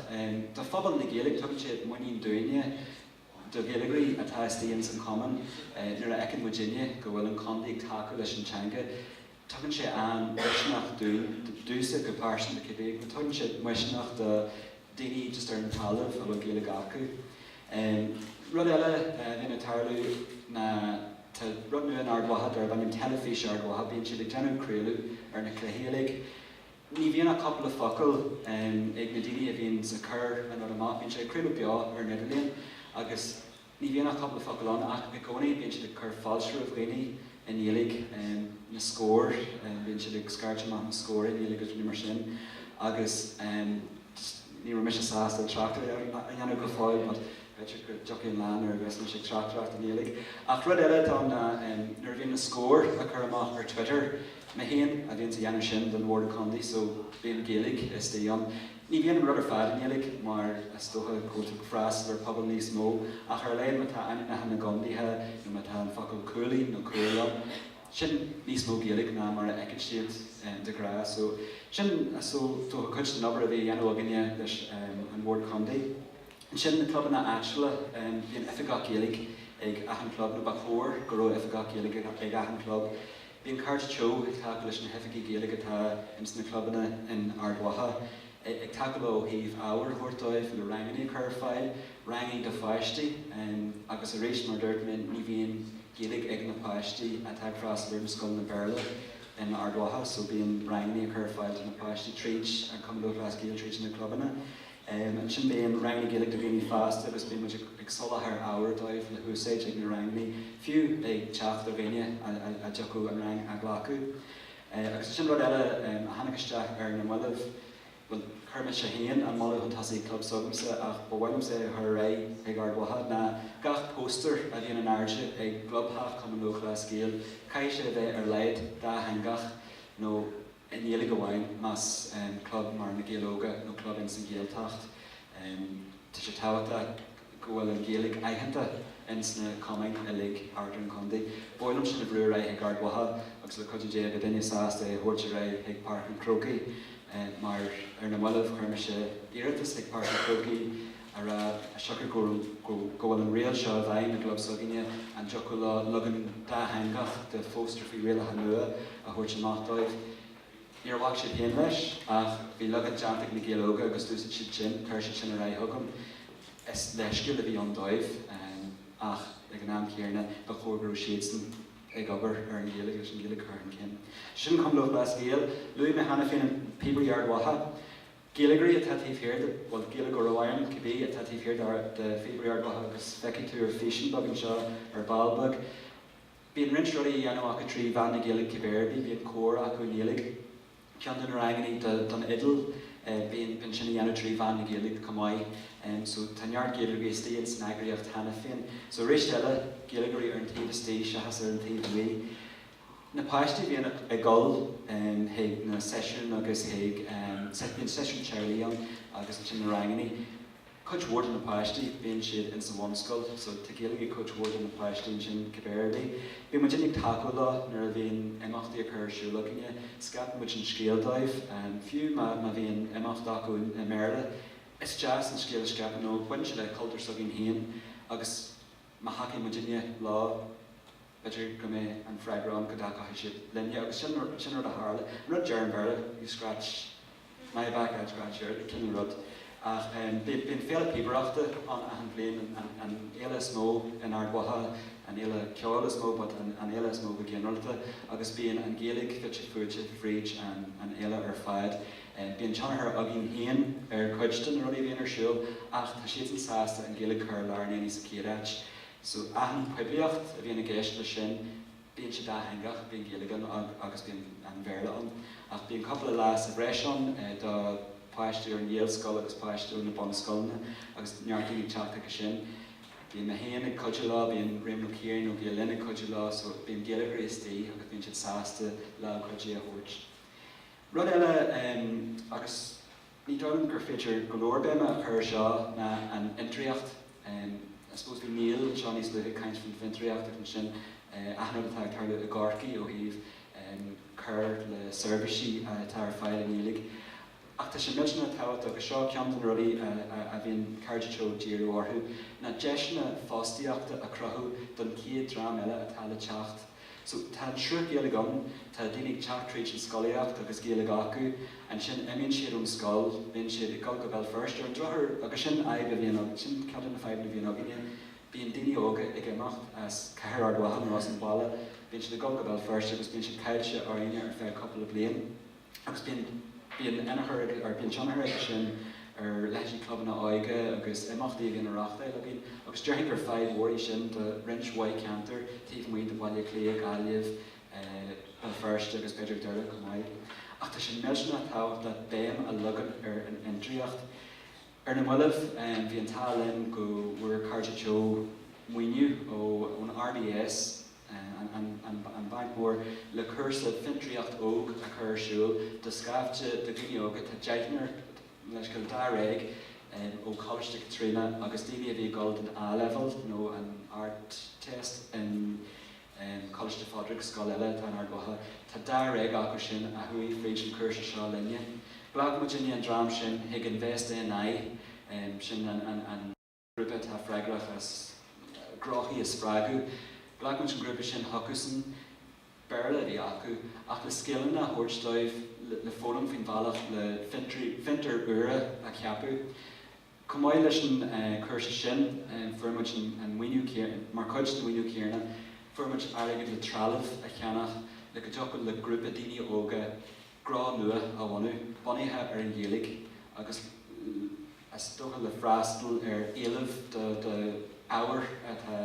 do phobal na Gaeilge, tugann siad muinín dúinne. Do Ghaeilgeoirí atá istigh ins an Chumann, nuair a fheiceann muid daoine go bhfuil an contae ag tacú leis an teanga, tugann sé an-mhisneach dúinn, domhsa go pearsanta cibé, agus tugann sé misneach do daoine just ar an talamh a bhfuil Gaeilge acu. Rud eile a bhíonn ag tarlú ná tá rud nua in Ard Mhacha darb ainm Teilifís Ard Mhacha. Bíonn siad ag déanamh craoladh ar na cluichí uilig. Ní bhíonn ach cupla focal ag na daoine a bhíonn ag cur an rud amach. Bíonn siad ag craoladh beo ar an idirlíon agus ní bhíonn ach cupla focal acu ach i gcónaí bíonn siad ag cur fáilte roimh dhaoine i nGaeilge, na scóir, bíonn siad ag scairt amach na scór i nGaeilge agus rudaí mar sin agus ní raibh mise sásta tráchtaireacht a dhéanamh go fóill but b'fhéidir go dtiocfaidh an lá nuair a bheas mise ag tráchtaireacht i nGaeilge. Ach rud eile atá ann ná nuair a bhíonn na scóir á gcur amach ar Twitter, Mé féin a bhíonns a dhéanamh sin don Bhord Contae so bíonn Gaeilge istigh ann. Ní bhíonn an rud ar fad i nGaeilge mar is dócha go bhfuil tú freastal ar pobal níos mó ach ar a laghad má tá ainmneacha na gcontaetha nó má tá an focal cúilín nó cúil ann, sin níos mó Gaeilge ná mar a fheiceann siad de ghnáth. So sin is dócha cuid den obair a bhí a dhéanamh againne leis an Bhord Contae. Ansin na clubanna áitiúla, bíonn oifigeach Gaeilge ag achan club nó ba chóir go raibh oifigeach Gaeilge ag achan club. Bíonn Cairde Teo ag tacú leis na hoifigí Gaeilge atá ins na clubanna in Ard Mhacha, ag tacú leo ó thaobh ábhair a thabhairt dóibh, le rangannaí a chur ar fáil, ranganna do pháistí, agus arís, mar a dúirt mé, ní bhíonn Gaeilge ag na páistí atá ag freastal ar na scoileanna Béarla in Ard Mhacha, so bíonn rangannaí á chur ar fáil do na páistí tríd an Cumann Lúthchleas Gael, tríd na clubanna. Ansin bíonn rangannaí Gaeilge do dhaoine fásta agus bíonn muid ag soláthar ábhair dóibh le húsáid ag na rangannaí. Fiú ag teacht ar dhaoine a dtiocfadh an rang a ghlacadh. Agus ansin rud eile a tháinig isteach ar na mallaibh, bhuel, chuir mise féin an moladh chun tosaigh ag club s'agamsa ach ba mhaith liomsa é a chur ar aghaidh chuig Ard Mhacha, ná gach póstaer a bhíonn in airde i gclubtheach Chumann Lúthchleas Gael, caithfidh sé a bheith ar laghad dátheangach nó. i nGaeilge amháin, más club mar Na Gaeil Óga nó club ins an Ghaeltacht. Tá sé tábhachtach go bhfuil an Ghaeilge aitheanta ins na cumainn uilig thart ar an chontae. Ba mhaith liom sin a bhrú ar aghaidh chuig Ard Mhacha agus le cuidiú Dé beidh duine sásta é a thabhairt ar aghaidh chuig Páirc an Chrócaigh mar ar na mallaibh chuir mise iarratas chuig Páirc an Chrócaigh ag rá siocair go bhfuil an riail seo i bhfeidhm i gclub s'againne, an dtiocfadh leo leagan dátheangach de phóstaer faoi rialacha nua a thabhairt amach dóibh? Níor bhac siad féin leis, ach bhí leagan déanta ag Na Gaeil Óga agus d'úsaid siad sin. Chuir siad sin ar aghaidh chugam. Is leithscéal a bhí ann dóibh, ach ag an am chéanna, ba chóir go raibh siadsan ag obair ar an Ghaeilge agus an Ghaeilge curtha chun cinn. Sin Cumann Lúthchleas Gael. Luaigh mé cheana féin na Píobairí Ard Mhacha. Gaeilgeoirí atá taobh thiar de, bhuel, Gaeilgeoirí ar aon, cibé atá taobh thiar de Phíobairí Ard Mhacha agus feicfidh tú ar físeán beag anseo, ar ball beag. Bíonn roinnt rudaí á dhéanamh acu trí mheán na Gaeilge cibé ar bith, bíonn cór acu i nGaeilge, ceann de na rangannaí don fhidil, bíonn, bíonn sin á dhéanamh trí mheán na Gaeilge chomh maith. So tá neart Gaeilgeoirí istigh ins an eagraíocht cheana féin. So arís eile, Gaeilgeoirí ar an taobh istigh seachas ar an taobh amuigh. na páistí a bhíonn ag dul chuig na seisiúin agus chuig, bhuel, seisiún teaghlaigh ann agus ansin na ranganna. Cuid mhór de na páistí, bíonn siad insa bhunscoil so tá Gaeilge ag cuid mhór de na páistí ansin cibé ar bith. Bíonn muid iontach tacúil leo nuair a bhíonn imeachtaí acu ar siúl againne, scaipfidh muid an scéal dóibh. Fiú má bhíonn imeacht acu i mBéarla, is deas an scéal a scaipeadh nó baineann sé le cultúr s'againn féin agus má thacaíonn muidne leo, B'fhéidir go mbeidh an freagra ann go dtacaíonn siad linne agus sin an rud a tharla. An rud a deir an Béarla, you scratch my back, I'll scratch yours, an cineál rud. Ach bíonn féile píobaireachta ann achan bhliain, an fhéile is mó in Ard Mhacha, an fhéile ceoil is mó but an fhéile is mó go ginearálta agus bíonn an Ghaeilge fite fuaite fríd an fhéile ar fad. Bíonn tionchar againn féin ar chuid de na rudaí a bhíonn ar siúl ach tá siadsan sásta an Ghaeilge a chur i lár an aonaigh sa chéad áit. So achan poiblíocht a bhíonn i gceist leis sin. Bíonn siad dátheangach, bíonn Gaeilge ann agus bíonn an Bhéarla ann. Ach bíonn cúpla leas sa bhreis ann do pháistí ón Ghaelscoil agus páistí ó na bunscoileanna agus neart daoine ag teacht chuige sin. Bíonn mé féin ag cuidiú leo, bíonn Réamonn Ó Ciaráin ó Ghael Linn ag cuidiú leo so bíonn Gaeilgeoirí istigh agus bíonn siad sásta lámh chuidithe a thabhairt. Rud eile agus. Ní dóigh liom gur féidir go leor béime a chur ar seo ná an fhiontraíocht. I suppose bhí Niall anseo níos luaithe ag caint faoin fhiontraíocht agus ansin achan rud atá ag tarlú i gCorcaigh ó thaobh cur le seirbhísí atá ar fáil i nGaeilge. Ach tá sé millteanach tábhachtach agus seo ceann de na rudaí a bhíonn Cairde Teo ag díriú orthu, ná deiseanna fostaíochta a chruthú don chéad dream eile atá le teacht. So, tá an triúr Gaeilg ann, tá daoine ag teacht tríd an scolaíocht agus Gaeilg acu, ansin imíonn siad ón scoil, bíonn siad ag dul go Béal Feirste ar an drochuair agus sin fadhb a bhíonn againn, sin ceann de na fadhbanna a bhíonn againne, bíonn daoine óga ag imeacht as cathair Ard Mhacha nó as an bhaile, bíonn siad ag dul go Béal Feirste agus bíonn siad caillte orainne ar feadh cúpla bliain. agus bíonn bíonn ionchur or bíonn tionchar aige sin ar leithéidí clubanna óige agus imeachtaí a bhíonn á reáchtáil againn agus déarfainn gur fadhb mhór í sin do roinnt mhaith ceantar taobh amuigh de Bhaile Átha Cliath, Gaillimh, Béal Feirste agus b'fhéidir Doire chomh maith. Ach tá sé millteanach tábhachtach béim a leagan ar an fhiontraíocht. Ar na mallaibh, bhí an t-ádh linn go bhfuair Cairde Teo maoiniú ó ón RDS, an Banc Mór le cúrsa fiontraíocht óg a chur ar siúl do scaifte de dhaoine óga. Tá deichniúr leithscéal dáréag ó Choláiste Chaitríona agus daoine a bhí ag dul don A-Leibhéal nó an Ardteist in Coláiste Phádraig, scoil eile atá in Ard Mhacha. Tá dáréag acu sin a chuaigh fríd an chúrsa seo linne. Ghlac muidinne an dream sin chuig Invest NI, sin an. grúpa atá freagrach as gnóthaí a spreagadh. Ghlac muid an grúpa sin chucusan, Béarla a bhí acu, ach le scileanna a thabhairt dóibh le foghlaim faoin bhealach le fiontair úra a cheapadh. Chomh maith leis an chúrsa sin, fuair muid an maoiniú céanna, mar chuid den mhaoiniú céanna, fuair muid airgead le trealamh a cheannach le go dtiocfadh le grúpa daoine óga gnó nua a bhunú, bunaithe ar an Ghaeilge agus. Is dócha le freastal ar éileamh do ábhair atá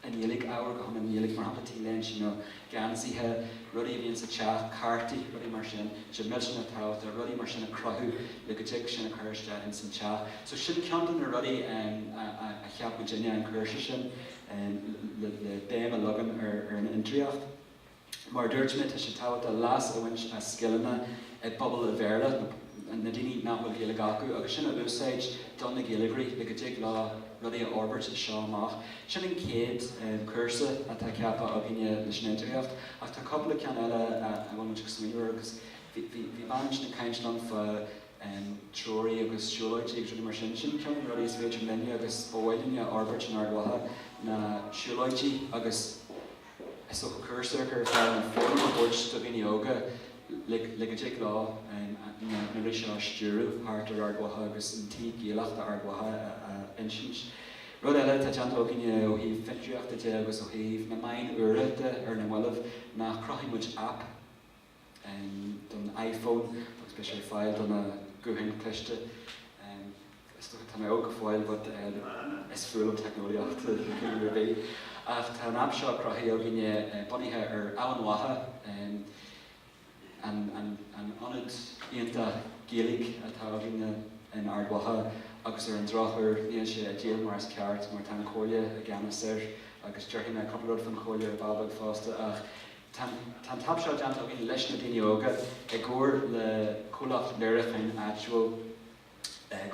i nGaeilge, ábhair go hiomlán Gaeilge, mar shampla t-léinte nó geansaithe, rudaí a bhíonn sa teach, cártaí, rudaí mar sin. Sé millteanach tábhachtach rudaí mar sin a chruthú le go dtig sin a chur isteach ins an teach. So sin ceann de na rudaí a cheap muidinne, an cúrsa sin le béim a leagan ar an fhiontraíocht. Mar a dúirt mé, tá sé tábhachtach leas a bhaint as scileanna i bpobal an Bhéarla, na daoine nach bhfuil Gaeilge acu, agus sin a úsáid do na Gaeilgeoirí le go dtig leo rudaí a fhorbairt as seo amach. Sin an chéad chúrsa atá ceaptha againne leis an fhiontraíocht, ach tá cúpla ceann eile a bhfuil muid ag smaoineamh air. Agus bhí bean ansin ag caint liom fá treoraí agus siúlóidí agus rudaí mar sin. Sin ceann de na rudaí is féidir linne agus ba mhaith linn a fhorbairt in Ard Mhacha, na siúlóidí agus. Is dócha cúrsa a chur ar fáil, an fóram a thabhairt do dhaoine óga le go dtig leo na rudaí seo a stiúradh thart ar Ard Mhacha agus an taobh Gaelach d'Ard Mhacha a insint. Rud eile atá déanta againne ó thaobh fiontraíochta de agus ó thaobh na meáin úra de ar na moillibh ná chruthaigh muid aip. don iPhone agus beidh sé ar fáil do na gutháin cliste. Tá mé óg go fóill but is fuath liom teicneolaíocht de chineál ar bith. Ach tá an aip seo cruthaithe againne bunaithe ar Eamhain Mhacha, an ionad iontach Gaeilge atá againne in Ard Mhacha agus ar an drochuair níl sé ag díol mar is ceart mar tá an Chomhairle i gceannas air agus déarfaidh mé cúpla rud faoin Chomhairle ar ball beag fosta ach Tá an t-aip seo déanta againn leis na daoine óga i gcomhar le comhlacht léiriúcháin áitiúil,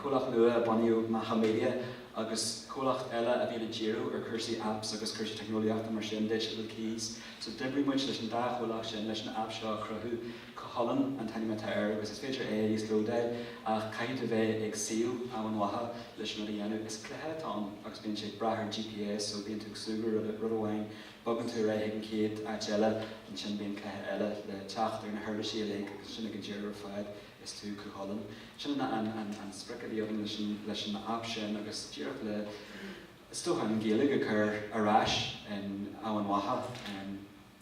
comhlacht nua a bunaíodh, Macha Media, agus comhlacht eile a bhíonn ag díriú ar chúrsaí apps agus cúrsaí teicneolaíochta mar sin, Digital Keys. So d'oibrigh muid leis an dá chomhlacht sin leis an aip seo a chruthú. Cú Chulainn an t-ainm atá air agus is féidir é a íoslódáil ach caithfidh tú bheith ag suíomh Eamhain Mhacha leis an rud a dhéanamh. Is cluiche atá ann agus bíonn sé ag brath ar GPS so bíonn tú ag súgradh rud amháin bogann tú ar aghaidh chuig an chéad áit eile, ansin bíonn cluiche eile le teacht ar na huirlisí uilig agus ansin ag an deireadh ar fad is tú Cúchulainn. Sin an sprioc a bhí agam leis an aip sin agus díreach le, is dócha, an Ghaeilg a chur ar ais in Eamhain Mhacha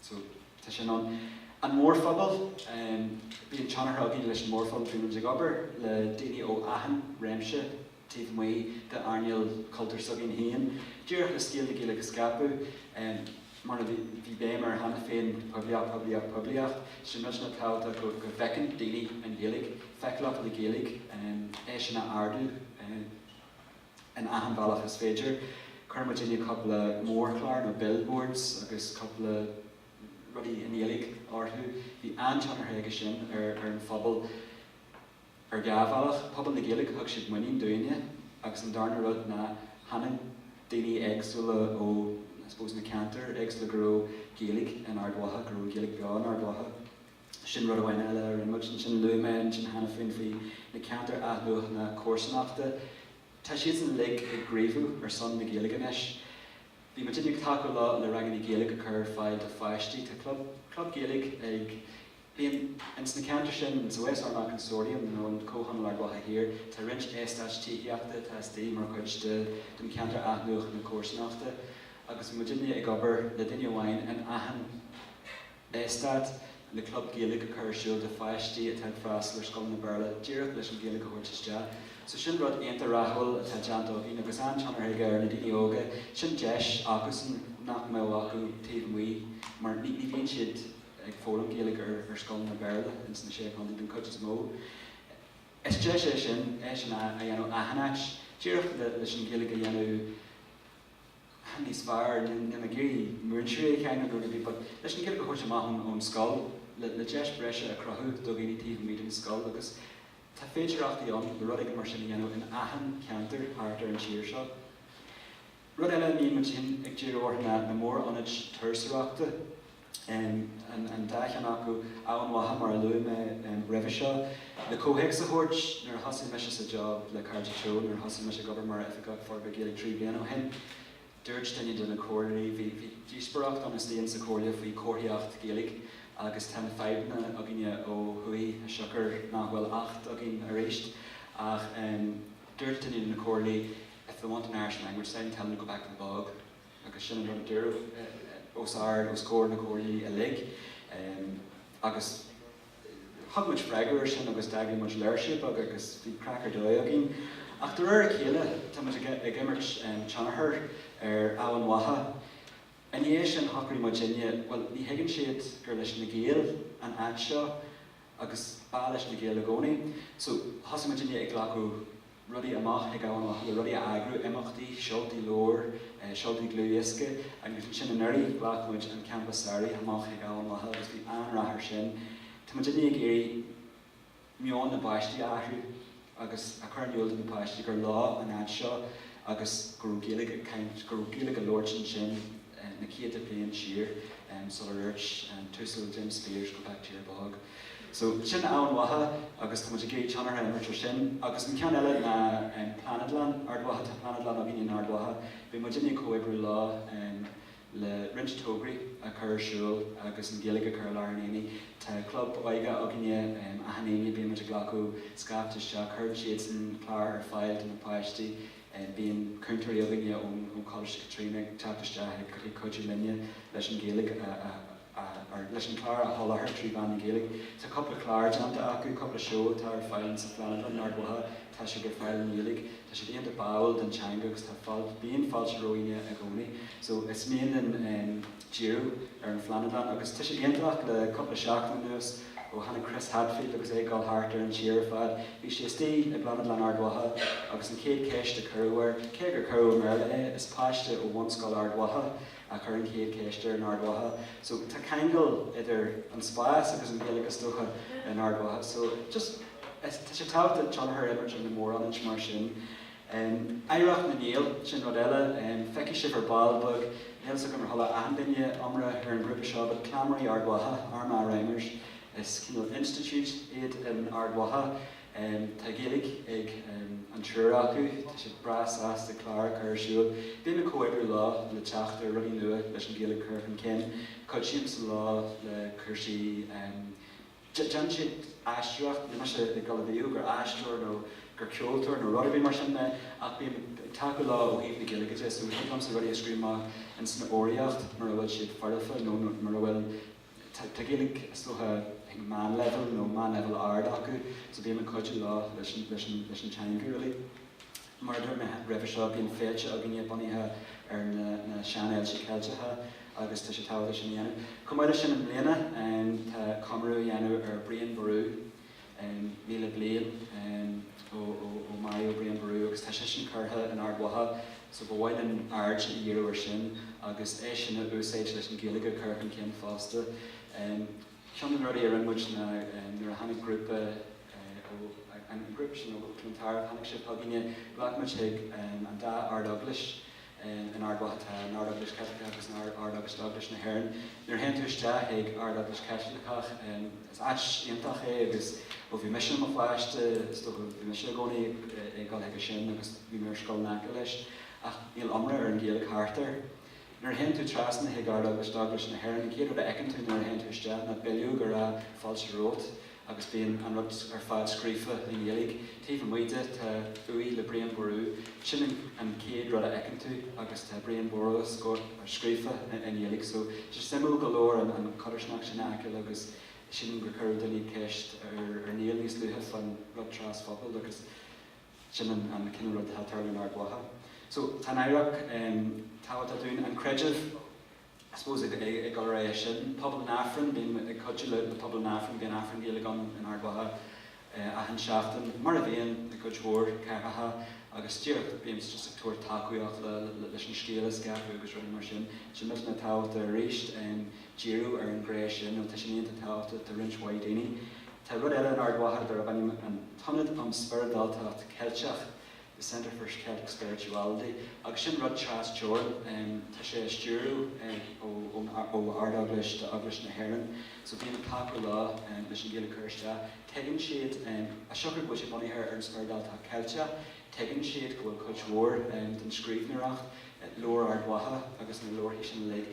so tá sin ann. An mórphobal, bíonn teagmháil againn leis an mórphobal, bímid ag obair le daoine ó achan réimse, taobh amuigh d'airneál cultúir s'againn héin. Díreach le scéal na Gaeilge a scaipeadh, mar a bhí béim air cheana féin, poiblíocht, poiblíocht, poiblíocht, sin muidinne ag caint go bhfeiceann daoine an Ghaeilge, feiceálacht na Gaeilge, é sin a ardú in achan bhealach is féidir. Chuir muidinne cúpla mórchlár nó billboards agus cúpla rudaí i nGaeilge orthu. Bhí an-tionchar aige sin ar an phobal. Ar dhá bhealach, pobal na Gaeilge, thug siad muinín dúinne agus an darna rud ná chonaic daoine éagsúla ó, I suppose, na ceantair éagsúla go raibh Gaeilge in Ard Mhacha, go raibh an Ghaeilge beo in Ard Mhacha. Sin rud amháin eile a rinne muid, ansin luaigh mé ansin cheana féin faoi na ceantair athnuachana comharsanachta, tá siadsan uilig ag gníomhú ar son na Gaeilge anois. Bhí muidinne ag tacú le ranganna Gaeilge a chur ar fáil do pháistí, tá club, club Gaeilge ag. Bíonn ins na ceantair sin, insa Western Consortium nó an Comhthionól Ard Mhacha Thiar, tá roinnt eastáit tithíochta atá istigh mar chuid de don ceantar athnuachan na comharsanachta agus muidinne ag obair le duine amháin in achan eastát le club Gaeilge a chur ar siúl do pháistí atá ag freastal ar scoileanna Béarla díreach leis an Ghaeilge a thabhairt isteach so sin rud iontach rathúil atá déanta againn agus an-tionchar aige ar na daoine óga sin deis acu nach mbeadh acu taobh amuigh mar ní bhíonn siad ag foghlaim Gaeilge ar scoileanna Béarla ins na Sé Chontae den chuid is mó. Is deis é sin, é sin a dhéanamh in achan áit, díreach leis an Ghaeilge a dhéanamh níos fearr, níl mé ag iarraidh múinteoirí a cháineadh nó rudaí but leis an Ghaeilge a thabhairt amach ón scoil, le deis bhreise a chruthú do dhaoine taobh amuigh den scoil agus tá féidearthachtaí ann le rud éigin mar sin a dhéanamh in achan cheantar thart ar an tír seo. Rud eile a mbíonn muid fhéin ag díriú air ná na mór-ionaid turasóireachta, an dá cheann acu, Eamhain Mhacha mar a luaigh mé roimhe seo. Le comhthéacs a thabhairt, nuair a thosaigh mise sa job le Cairde Teo, nuair a thosaigh mise ag obair mar Oifigeach Forbartha Gaeilge trí bliana ó shin, dúirt duine de na comhairleoirí, bhí díospóireacht ann faoi seo sa chomhairle faoi chomharthaíocht Ghaeilge agus tá na fadhbanna againne ó thuaidh siocair nach bhfuil Acht againn arís ach dúirt duine de na comhairlí, If they want an Irish language sign, tell them to go back to the bog. Agus sin an rud a dúradh os ard os comhair na comhairle uilig. Agus thug muid freagra ar sin agus d'eagraigh muid léirsiú beag agus bhí craic ar dóigh againn. Ach de réir a chéile tá muid ag imirt tionchar ar Eamhain Mhacha. I ndiaidh sin shocraigh muidinne, bhuel ní thuigeann siad gur leis na Gaeil an áit seo agus ba leis na Gaeil i gcónaí. So thosaigh muidinne ag glacadh rudaí amach chuig Eamhain Mhacha le rudaí a eagrú, imeachtaí, seoltaí leabhar, seoltaí dlúthdhiosca. Agus ansin anuraidh, ghlac muid an Campa Samhraidh amach chuig Eamhain Mhacha agus bhí an-rath air sin. Tá muidinne ag iarraidh meon na bpáistí a athrú agus a chur in iúl do na páistí gur leo an áit seo agus go raibh Gaeilge ag caint, go raibh Gaeilge á labhairt ansin na céadta bliain siar sular dúirt an tUasal Jim Speers go back to your bog. So, sin Eamhain Mhacha agus tá muid ag iarraidh tionchar a imirt ar sin. Agus an ceann eile ná Pláinéadlann Ard Mhacha. Tá Pláinéadlann againn in Ard Mhacha. Bíonn muidinne ag comhoibriú leo le roinnt tograí a chur ar siúl agus an Ghaeilge a chur i lár an aonaigh. Tá club óige againne, achan Aoine bíonn muid ag glacadh scaifte isteach. Cuireann siadsan clár ar fáil do na páistí. Bíonn cúntóirí againne ón Choláiste Caitríona ag teacht isteach ag cuidiú linne leis an Ghaeilge a leis an clár a sholáthar trí mheán na Gaeilge. Tá cúpla clár déanta acu, cúpla seó atá ar fáil insa Phláinéadlann in Ard Mhacha, tá siad ar fáil i nGaeilge. Tá siad iontach báúil don teanga agus tá fáilte, bíonn fáilte romhainne i gcónaí. So, is mian linn díriú ar an Phláinéadlann agus tá sé iontach, le cúpla seachtain anuas ó tháinig Chris Hadfield agus é ag dul thart ar an tír ar fad, bhí sé istigh i bPláinéadlann Ard Mhacha agus an chéad cheist a cuireadh air, cé gur cuireadh i mBéarla é, is páiste ó Bhunscoil Ard Mhacha, a chuir an chéad cheist air in Ard Mhacha. So, tá ceangal idir an spás agus an Ghaeilge is dócha in Ard Mhacha. So, just, is, tá sé tábhachtach tionchar a imirt ar na mórionaid mar sin. Em, oidhreacht na nGael, sin rud eile. Em, feicfidh sibh ar ball beag, níl 'fhios agam ar chuala achan duine iomrá ar an ghrúpa seo, but Cleamairí Ard Mhacha, Armagh Rhymers, is cineál institute iad in Ard Mhacha. Tá Gaeilge ag an triúr acu. Tá siad breá sásta clár a chur ar siúl. Bím ag comhoibriú leo le teacht ar rudaí nua leis an Ghaeilge a chur chun cinn. Cuidímse leo le cúrsaí, déanann siad aisteoireacht, níl mise ag dul a mhaíomh gur aisteoir nó gur ceoltóir nó rud ar bith mar sin mé ach bím ag tacú leo ó thaobh na Gaeilge de so thig liomsa rudaí a scríobh amach insan fhoghraíocht mura bhfuil siad foirfe nó mura bhfuil Tá Gaeilge is dócha ag meánleibhéal nó meánleibhéal ard acu so bím ag cuidiú leo leis an teanga really. Mar a dúirt mé roimhe seo bíonn féilte againne bunaithe ar na seanfhéilte Ceilteacha agus tá sé tábhachtach sin a dhéanamh. Chomh maith leis sin i mbliana tá comóradh á dhéanamh ar Brian Boru, 1,000 bliain ó maraíodh Brian Ború agus tá sé sin curtha in Ard Mhacha so ba mhaith linn aird a dhíriú ar sin agus é sin a úsáid leis an Ghaeilge a chur chun cinn fosta. Ceann de na rudaí a rinne muid ná nuair a tháinig grúpa ó an group sin ó Clontarf, tháinig siad chugainne, ghlac muid chuig an dá Ard Eaglais, in Ard Mhacha tá an Ard-Eaglais Chaitliceach agus an Ard-Eaglais Eaglais na hÉireann. Nuair a théann tú isteach chuig an Ard-Eaglais Chaitliceach, is áit iontach é agus ó bhí mise i mo pháiste, is dócha, bhí mise i gcónaí ag dul chuige sin agus bhí mé ar scoil in aice leis, ach níl iomrá ar an Ghaeilge thart air. Nuair a théann tú trasna chuig Ard-Eaglais d'Eaglais na hÉireann, an chéad rud a fheiceann tú nuair a théann tú isteach ná bileog go raibh fáilte romhat, agus bíonn an rud ar fad scríofa i nGaeilge taobh amuigh de, tá uaigh le Brian Ború, sin an chéad rud a fheiceann tú agus tá Brian Ború scríofa i nGaeilge so tá sé suimiúil go leor an codarsnacht sin a fheiceáil agus sílim gur chuir duine ceist ar Niall níos luaithe fán rud trasphobail agus sin an cineál rud atá ag tarlú in Ard Mhacha so tá an oidhreacht tábhachtach dúinn, an creideamh. I suppose ag éirí as sin, pobal an Aifrinn, bím ag cuidiú le pobal an Aifrinn, bíonn Aifreann Gaeilge ann in Ard Mhacha achan seachtain, mar a bhíonn i gcuid mhór ceantracha agus díreach bímse just ag tabhairt tacaíocht leis an scéal a scaipeadh agus rudaí mar sin. Sílimse go bhfuil sé tábhachtach arís, díriú ar an ghné sin nó tá sé iontach tábhachtach do roinnt mhaith daoine. Tá rud eile in Ard Mhacha darb ainm an tIonad um Spioradáltacht Cheilteach. the Centre for Celtic Spirituality, agus sin rud trasteorann. Tá sé á stiúradh ó Ard Eaglais de Eaglais na hÉireann. So bím ag tacú leo leis an Ghaeilge a chur isteach. Tuigeann siad, as siocair go bhfuil sé bunaithe ar an spioradáltacht Ceilteach, tuigeann siad go bhfuil cuid mhór den scríbhneoireacht, Leabhar Ard Mhacha agus na leabharthaí sin uilig,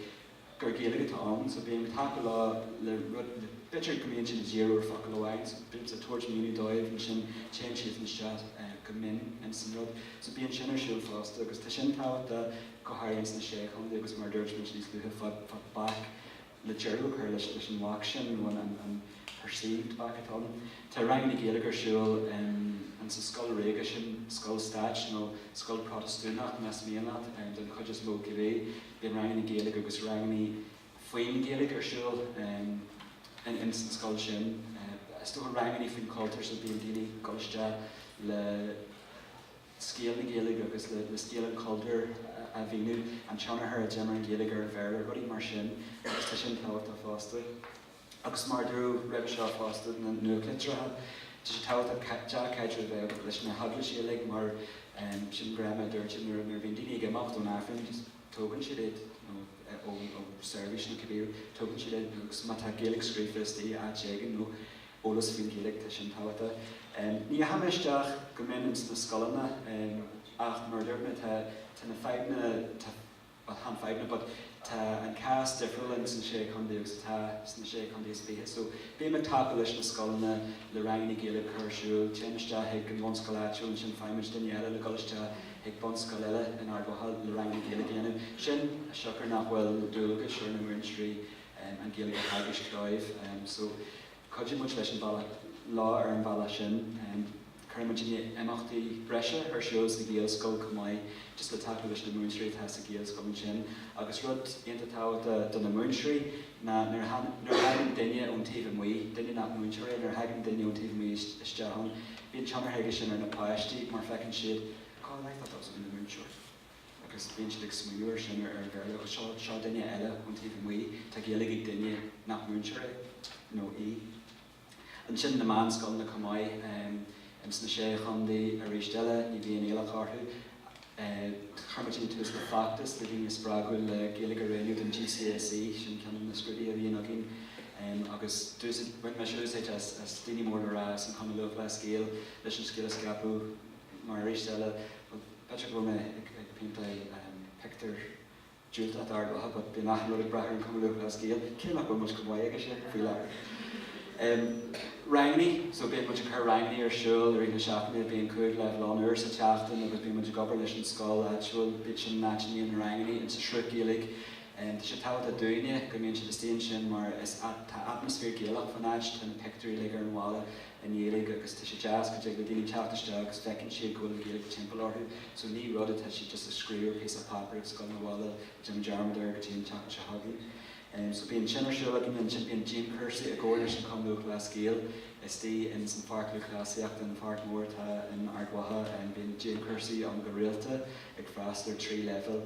gur Gaeilge atá ann so bím ag tacú leo le rud, b'fhéidir go mbíonn siad ag díriú ar focal amháin so bímse ag tabhairt míniú dóibh ansin téann siad isteach go mion ins an rud so bíonn sin ar siúl fosta agus tá sin tábhachtach go háirithe ins na Sé Chontae agus mar a dúirt muid níos luaithe fad fad bac le deireadh a chur leis leis an bhac sin nó an an an perceived bac atá ann. Tá ranganna Gaeilge ar siúl in in sa scoil ríoga sin, scoil stáit nó scoil Protastúnach más mian leat, den chuid is mó cibé, Bíonn ranganna Gaeilge agus ranganna faoin Ghaeilge ar siúl ins an scoil sin. Is dócha ranganna faoin chultúr so bíonn daoine ag dul isteach le scéal na Gaeilge agus le scéal an chultúir a mhíniú, an tionchar a d'imir an Ghaeilge ar an Bhéarla, rudaí mar sin agus tá sin tábhachtach fosta. agus mar a dúradh roimhe seo fosta na nuachtlitreacha, tá sé tábhachtach dea-chaidreamh a bheith leis na heaglaisí uilig mar sin mar a dúirt nuair a bhíonn daoine ag imeacht ón Aifreann, tógann siad iad nó ó seirbhís nó cibé rud, tógann siad iad agus má tá Gaeilge scríofa istigh áit éigin nó eolas faoin Ghaeilge, tá sin tábhachtach. Ní dheachaigh mé isteach go mion ins na scoileanna ach mar a dúirt mé tá na fadhbanna, tá. Bhuel, chan fadhbanna, but tá an cás difriúil ins na Sé Chondae agus atá sna Sé Chondae is Fiche. So, bím ag tacú leis na scoileanna, le ranganna Gaeilge a chur ar siúl, téim isteach chuig an bhunscoil áitiúil, ansin faighimid duine eile le dhul isteach chuig bunscoil eile in Ard Mhacha le ranganna Gaeilge a dhéanamh. Sin as siocair nach bhfuil dualgas ar na múinteoirí an Ghaeilge a theagasc dóibh. So, cuidíonn muid leis an bhealach, leo ar an bhealach sin. Cuirfidh muid imeachtaí breise ar siúl sa Ghaelscoil chomh maith, just le tacú leis na múinteoirí atá sa Ghaelscoil ansin. Agus rud iontach tábhachtach do na múinteoirí ná nuair a thagann duine ón taobh amuigh, duine nach múinteoir é, nuair a thagann duine ón taobh amuigh isteach ann, bíonn tionchar aige sin ar na páistí mar feiceann siad, 'cá fhad atá tusa ina múinteoir? agus bíonn siad ag smaoineamh ar sin, ar an Bhéarla, agus seo, seo duine eile ón taobh amuigh, tá Gaeilge ag duine nach múinteoir é nó í. Ansin na meánscoileanna chomh maith ins na Sé Chondae arís eile, ní bhíonn iallach orthu. Chuir muid tús le feachtas le daoine a spreagadh le Gaeilge a roghnú don GCSE, sin ceann de na scrúduithe a bhíonn againn, agus d'úsáid, bhain mise úsáid as daoine mór le rá as an Chumann Lúthchleas Gael leis an scéal a scaipeadh mar arís eile, bhuel, b'fheidir go bhfuil mé ag péinteáil pictiúr. diúltach d'Ard Mhacha, but bíonn achan rud ag brath ar an Chumann Lúthchleas Gael, cé nach bhfuil muid chomh maith aige sin faoi láthair. Em. rangannaí, so bíonn muid ag cur rangannaí ar siúl i rith na seachtaine, bíonn cúig leibhéal ann, uair sa tseachtain agus bíonn muid ag obair leis an scoil áitiúil, but sin an áit a mbíonn na rangannaí, in sa Sruth Gaeilge. Em. tá sé tábhachtach dúinne go mbíonn siad istigh ansin mar is a, tá atmaisféar Gaelach fán áit, tá na pictiúirí uilig ar an bhalla, i nGaeilge agus tá sé deas go dtig le daoine teacht isteach agus feiceann siad go bhfuil Gaeilge timpeall orthu so ní rud atá siad just a scríobh ar phíosa páipéar agus ag gabháil abhaile ag déanamh dearmad air go dtí an tseachtain seo chugainn em so bíonn sin ar siúl againne ansin bíonn dianchúrsaí i gcomhar leis an Chumann Lúthchleas Gael istigh in san pháirc lúthchleasaíochta an pháirc mhór atá in Ard Mhacha em bíonn dianchúrsaí ann go rialta ag freastal ar trí leibhéal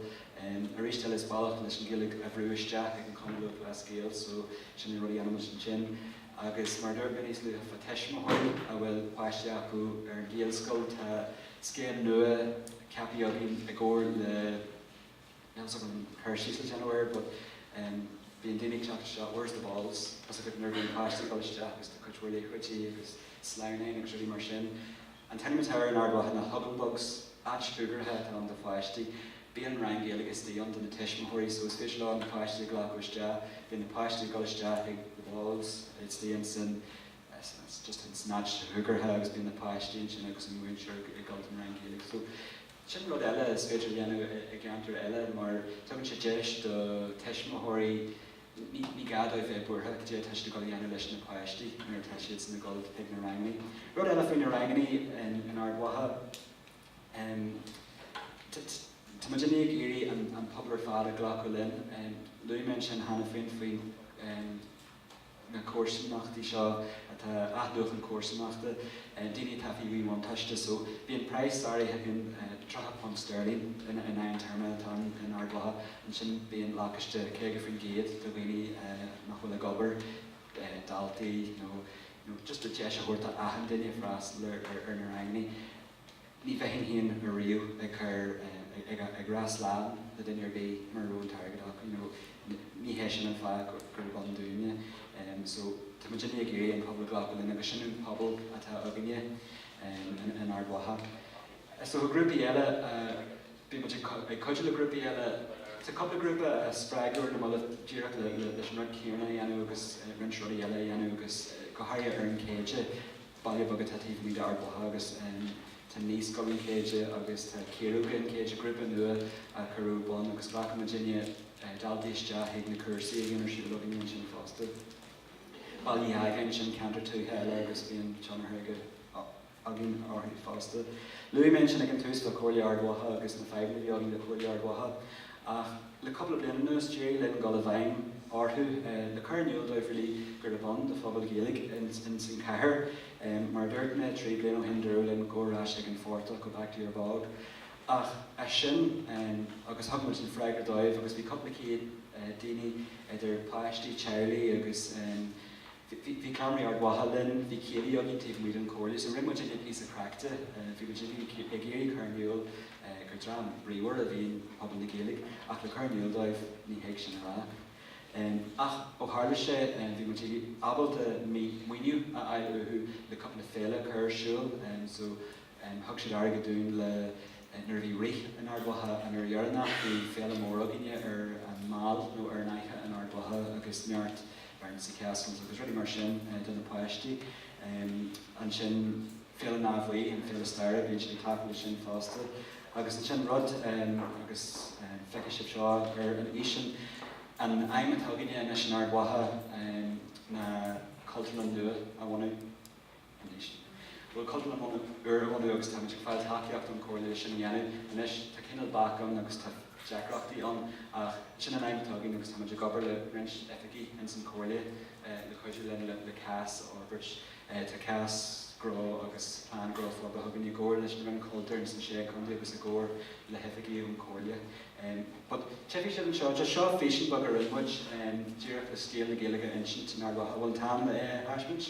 em arís eile is bealach leis an Ghaeilge a bhrú isteach ag an Chumann Lúthchleas Gael so sin na rudaí a dhéanaimid ansin. Agus mar a dúirt mé níos luaithe fá tuismitheoirí a bhfuil páistí acu ar an Ghaelscoil, tá scéim nua ceaptha againn i gcomhar le, níl a fhios agam cur síos le déanamh air but em bíonn daoine ag teacht isteach, where's the balls, tá 'fhios agat nuair a bhíonn páistí ag dul isteach agus tá cuid mhór liathróidí agus sleamhnáin agus rudaí mar sin. An t-ainm atá air in Ard Mhacha ná Huggenbugs. Áit shúgartha atá ann do pháistí. Bíonn rang Gaeilge istigh ann do na tuismitheoirí so is féidir leo na páistí a ghlacadh isteach. Bíonn na páistí ag dul isteach ag the balls istigh ansin just in san áit shúgartha agus bíonn na páistí ansin agus an múinteoir ag dul don rang Gaeilge. So sin rud eile is féidir a dhéanamh i gceantar eile mar tugann sé deis do tuismitheoirí Ní gá dóibh bheith buartha cad é tá siad ag dul a dhéanamh leis na páistí nuair atá siadsan ag dul chuig na rangannaí. Rud eile faoi na rangannaí in Ard Mhacha, tá muidinne ag iarraidh an pobal ar fad a ghlacadh linn. Luaigh mé ansin cheana féin faoi na comharsanachtaí seo atá, athnuachan comharsanachta, daoine atá faoi mhíbhuntáiste. So bíonn praghas áirithe againn, £30 sterling in aghaidh an téarma atá in Ard Mhacha, Ansin bíonn lacáiste 50% do dhaoine nach bhfuil ag obair, daltaí nó nó just le deis a thabhairt do achan duine freastal ar ar na ranganna. Ní bheinn féin ariamh ag cur ag ag rá slán le duine ar bith mura raibh an t-airgead acu you know. Ní hé sin an fáth gurb ann dúinne. So tá muid uilig ag iarraidh an pobal glacadh linn agus sin an pobal atá againne in Ard Mhacha. Is dócha grúpaí eile a bíonn muid ag cuidiú le grúpaí eile. Tá cúpla grúpa a spreagadh ar na mallaibh díreach leis an rud céanna a dhéanamh agus roinnt rudaí eile a dhéanamh agus go háirithe ar an Céide, baile beag atá taobh amuigh d'Ard Mhacha agus tá Naíscoil an Chéide agus tá Ciaróga an Chéide, grúpa nua a cuireadh ar bun agus ghlac muidinne daltaí isteach chuig na cúrsaí a bhíonn ar siúl againne ansin fosta. Baile Uí Ágáin, sin ceantar tuaithe eile agus bíonn tionchar aige. againn orthu fosta. Luaigh mé ansin ag an tús le Comhairle Ard Mhacha agus na fadhbanna a bhí againn le Comhairle Ard Mhacha ach le cúpla bliain anuas d'éirigh linn dul i bhfeidhm orthu le cur in iúl dóibh really gurb ann do phobal Gaeilge in san chathair. Mar a dúirt mé trí bliana ó shin dúradh linn gabh ar ais ag an phortach, go back to your bog. Ach as sin agus thug muid an freagra dóibh agus bhí cúpla céad daoine idir páistí, teaghlaigh agus. Bhí, bhí Cleamairí Ard Mhacha linn, bhí céilí againn taobh amuigh den comhairle, so rinne muid a gcuid píosa craic de, bhí muid ag iarraidh, ag iarraidh cur in iúl gur dream bríomhar a bhí in pobal na Gaeilge ach le cur in iúl dóibh, ní thig sin a rá. Ach ó tharla sé, bhí muid ag, ábalta maoiniú a fháil uathu le cúpla féile a chur ar siúl, so, Thug siad airgead dúinn le nuair a bhí Rith in Ard Mhacha an uair dheireanach bhí féile mór againne ar an Mall nó ar an fhaiche in Ard Mhacha agus neart bouncy castles agus rudaí mar sin do na páistí. Ansin Féile an Átha Bhuí, an féile staire, bíonn siad ag cleachtadh leis sin fosta. Agus ansin rud agus feicfidh sibh seo ar an fhísean an aidhm atá againne anois in Ard Mhacha ná Cultúrlann nua a bhunú. anois. Bhuel, cultúrlann úr a bhunú agus táimid ag fáil tacaíocht ón gComhairle leis sin a dhéanamh. Anois, tá cineál bac ann agus tá deacrachtaí ann ach sin an aidhm atá againn agus táimid ag obair le roinnt oifigigh ins an Chomhairle le cuidiú linn le cás a fhorbairt. Tá cás gnó agus plean gnó forbartha againn i gcomhar leis an Roinn Cultúir ins an Sé Chontae agus i gcomhar le hoifigigh ón gComhairle. But tuigfidh sibh anseo, just seo físean beag a rinne muid díreach le scéal na Gaeilge a insint in Ard Mhacha, a bhfuil an t-am le é a thaispeaint?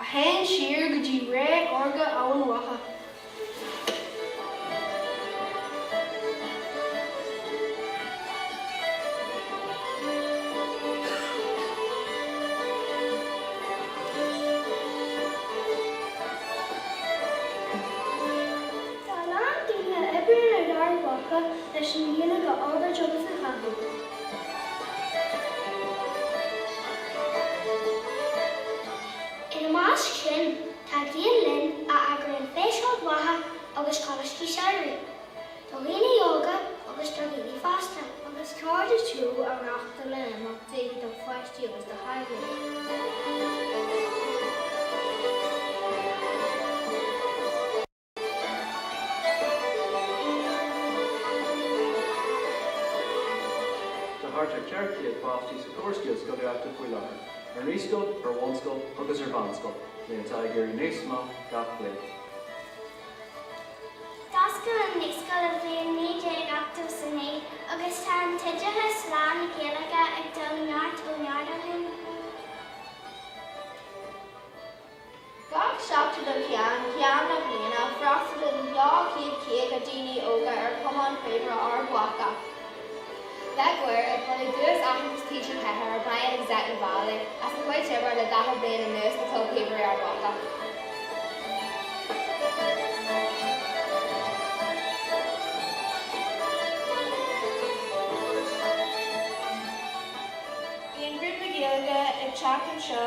a théann siar go dtí ré órga Eamhain Mhacha. Tá a lán daoine ag obair in Ard Mhacha leis an teanga a fhorbairt agus a chothú. Ina measc sin, tá Gael Linn, a eagraíonn Feis Ard Mhacha agus Coláistí Samhraidh do dhaoine óga agus do dhaoine fásta. Agus Cairde Teo a reáchtálann imeachtaí do pháistí agus do theaghlaigh? Tá thart ar cheithre chéad páiste sa córas gaelscolaíochta faoi láthair, ar naíscoil, ar bhunscoil agus ar mheánscoil, líon atá ag éirí níos mó gach bliain. D'oscail an naíscoil sa bhliain 1989 agus tá an t-oideachas lán-Ghaeilge ag dul ó neart go neart ó shin. Gach seachtain ó cheann ceann na bliana, freastalaíonn 250 daoine óga ar Chumann Píobairí Ard Mhacha. I mbliana bronnadh Duais Aitheantais TG4 ar Bhrian agus Eithne Vallely as a gcuid oibre le 40 bliain anuas do Chlub Píobairí Ard Mhacha. Bíonn grúpa Gaeilge ag teacht anseo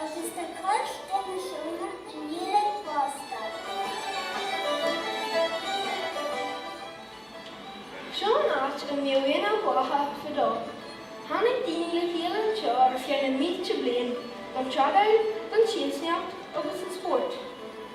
Agus tá cuid de na seónna i nGaeilge fosta. Seo an áit a mbíodh Aonach Mhacha fadó. Tháinig daoine le chéile anseo ar feadh na mílte bliain don tradáil, don tsiamsaíocht agus don spórt.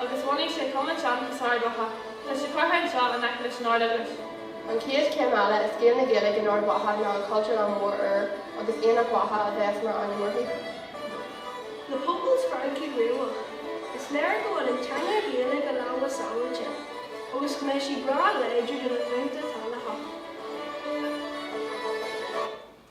agus bhunaigh sé Cumann Seanchais Ard Mhacha. Tá sé curtha anseo in aice leis an Ard-Eaglais. An chéad chéim eile i scéal na Gaeilge in Ard Mhacha ná an Chultúrlann mhór úr agus Aonach Mhacha a bheas mar ainm uirthi. Le pobal spreagtha bríomhar, is léir go bhfuil an teanga Ghaeilge i lámha sábháilte agus go mbeidh sí breá láidir do na glúnta atá le theacht.